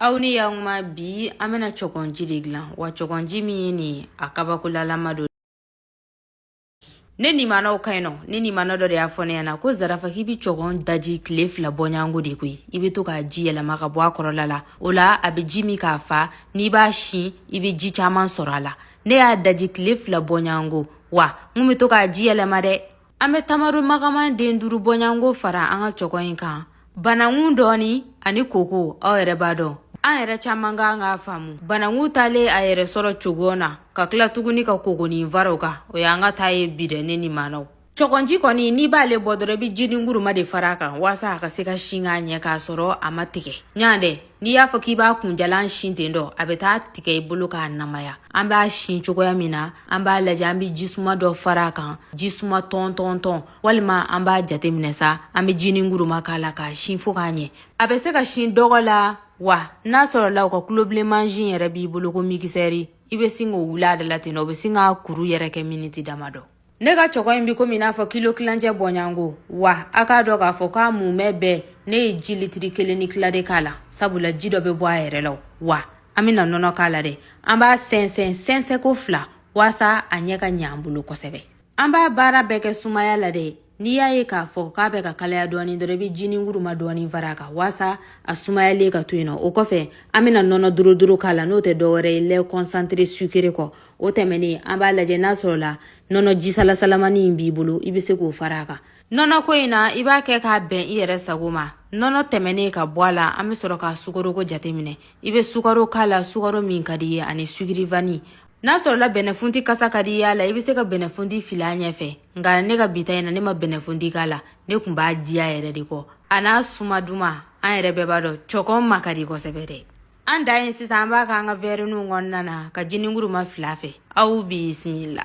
Aw ni y'an kuma bi an bɛna cɔgɔnji de dilan wa cɔgɔnji min ye nin ye a kabakolalama don ne nimanaw ka ɲi nɔ ne nimana dɔ de y'a fɔ ne ɲɛna ko zarafa k'i bi cɔgɔn daji tile fila bɔɲango de koyi i be to k'a ji yɛlɛma ka bɔ a kɔrɔla la o la a be ji min k'a fa n'i b'a sin i be ji caaman sɔrɔ a la ne y'a daji tile fila bɔɲango wa n kun be to k'a ji yɛlɛma dɛ An bɛ tamaro magaman den duuru bɔɲango fara an ka cɔgɔn in kan banakun dɔɔnin ani koko aw yɛrɛ b'a dɔn an yɛrɛ caman ka kan k'a faamu banakun talen a yɛrɛ sɔrɔ cogo na ka tila tuguni ka koko nin fara o kan o y'an ka taa ye bi dɛ ne nimanaw cɔgɔnji kɔni n'i b'aale bɔ dɔrɔn i bɛ jininguruma de fara a kan waasa a ka se ka sin k'a ɲɛ k'a sɔrɔ a ma tigɛ ɲɔgɔn dɛ N'i y'a fɔ k'i b'a kunjalan sin ten dɔ a bɛ taa tigɛ i bolo k'a namaya an b'a sin cogoya min na an b'a lajɛ an bɛ jisuma dɔ fara a kan jisuma tɔntɔntɔn walima an b'a jateminɛ sa an bɛ jininguruma k'a la k'a sin fo k'a ɲɛ a bɛ se ka sin dɔgɔ la wa n'a sɔrɔla u ka kulobilen mansin yɛrɛ b'i bolo ko mikisɛri i bɛ sin k'o wuli a da la ten dɔ o bɛ sin k'a kuru yɛrɛ kɛ miniti damadɔ ne ka cɔgɔn in bi komi i n'a fɔ kilo kilancɛ bɔɲango wa a k'a dɔn k'a fɔ k'a mumɛ bɛɛ ne ye ji litiri kelen ni kila de k'a la sabula ji dɔ bɛ bɔ a yɛrɛ la wa an bɛna nɔnɔ k'a la dɛ an b'a sɛnsɛn sɛnsɛnko fila waasa a ɲɛ ka ɲɛ an bolo kosɛbɛ an b'a baara bɛɛ kɛ sumaya la dɛ N'i y'a ye k'a fɔ k'a bɛ ka kalaya dɔɔni dɔrɔn i bɛ jininguruma dɔɔni fara a kan waasa a sumayalen ka to yen nɔ o kɔfɛ an bɛna nɔnɔ doro doro k'a la n'o tɛ dɔwɛrɛ ye lait concentré sucré kɔ o tɛmɛnen an b'a lajɛ n'a sɔrɔla nɔnɔ jisalasalamani in b'i bolo i bɛ se k'o fara a kan nɔnɔ ko in na i b'a kɛ k'a bɛn i yɛrɛ sago ma nɔnɔ tɛmɛnen ka bɔ a la an bɛ sɔrɔ ka sukaroko jateminɛ i bɛ sukaro k'a la sukaro min ka d'i ye ani sucre vanille n'a sɔrɔla bɛnɛfunti kasa ka d'i y'a la i bɛ se ka bɛnɛfunti fili a ɲɛfɛ nka ne ka bi ta in na ne ma bɛnɛfunti k'a la ne tun b'a diya yɛrɛ de kɔ a n'a suma duman an yɛrɛ bɛɛ b'a dɔn cɔgɔn ma ka di kosɛbɛ dɛ an da ye sisan an b'a k'an ka wɛriniw kɔnɔna na ka jininguruma fili a fɛ aw bisimila